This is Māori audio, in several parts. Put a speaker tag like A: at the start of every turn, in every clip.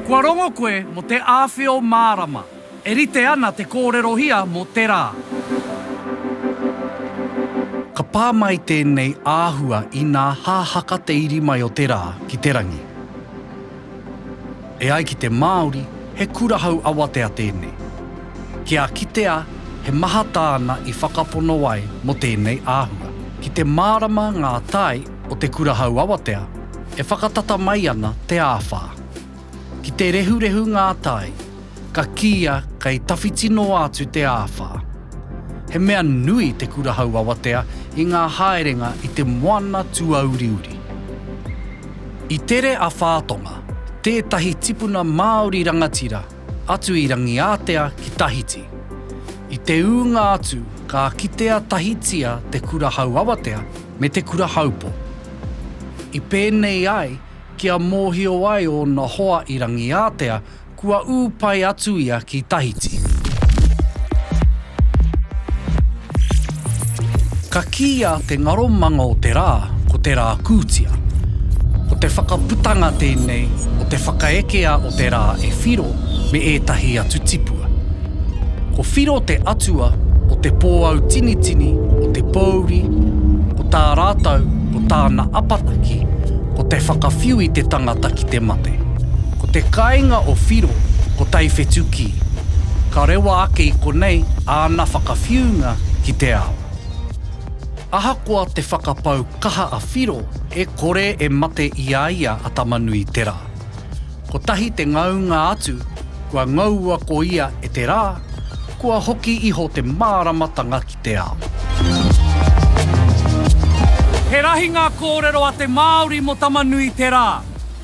A: Kua rongo koe mo te awhio mārama. E rite ana te kōrerohia mo te rā. Ka pā mai tēnei āhua inā hahaka te iri mai o te rā ki te rangi. E ai ki te Māori, he kurahau awatea tēnei. Kia kitea he maha tāna i whakapono ai mō tēnei āhua. Ki te mārama ngā tae o te kurahau awatea, e whakatata mai ana te āwhā. Ki te rehurehu ngā tae, ka kīia kei tawhiti noa atu te āwhā. He mea nui te kurahau awatea i ngā haerenga i te moana tuauriuri. I tere a Whātonga, tētahi tipuna Māori rangatira, atu i Rangiātea ki Tahiti. I te ūnga atu ka kitea tahitia te kurahau awatea me te kurahaupo. I pēnei ai kia mōhio ai ōna hoa i Rangiātea Kua ū pai atu ia ki Tahiti. Ka kīia te ngaro manga o te rā ko te rā kūtia. Ko te whakaputanga tēnei o te whakaekea o te rā e Whiro me ētahi atu tipua. Ko Whiro te atua o te pōautinitini, o te pōuri, o tā rātou, o tāna apataki, ko te whakawhiu i te tangata ki te mate. Ko te kāinga o Whiro ko Taiwhetukī, ka rewa ake i konei āna whakawhiunga ki te ao. Ahakoa te whakapau kaha a Whiro e kore e mate i a ia a Tama-nui-te-rā. Kotahi te ngaunga atu kua ngaua ko ia e te rā, kua hoki iho te māramatanga ki te ao. He rahi ngā kōrero a te Māori mō Tama-nui-te-rā.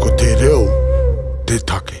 A: Ko te reo te take.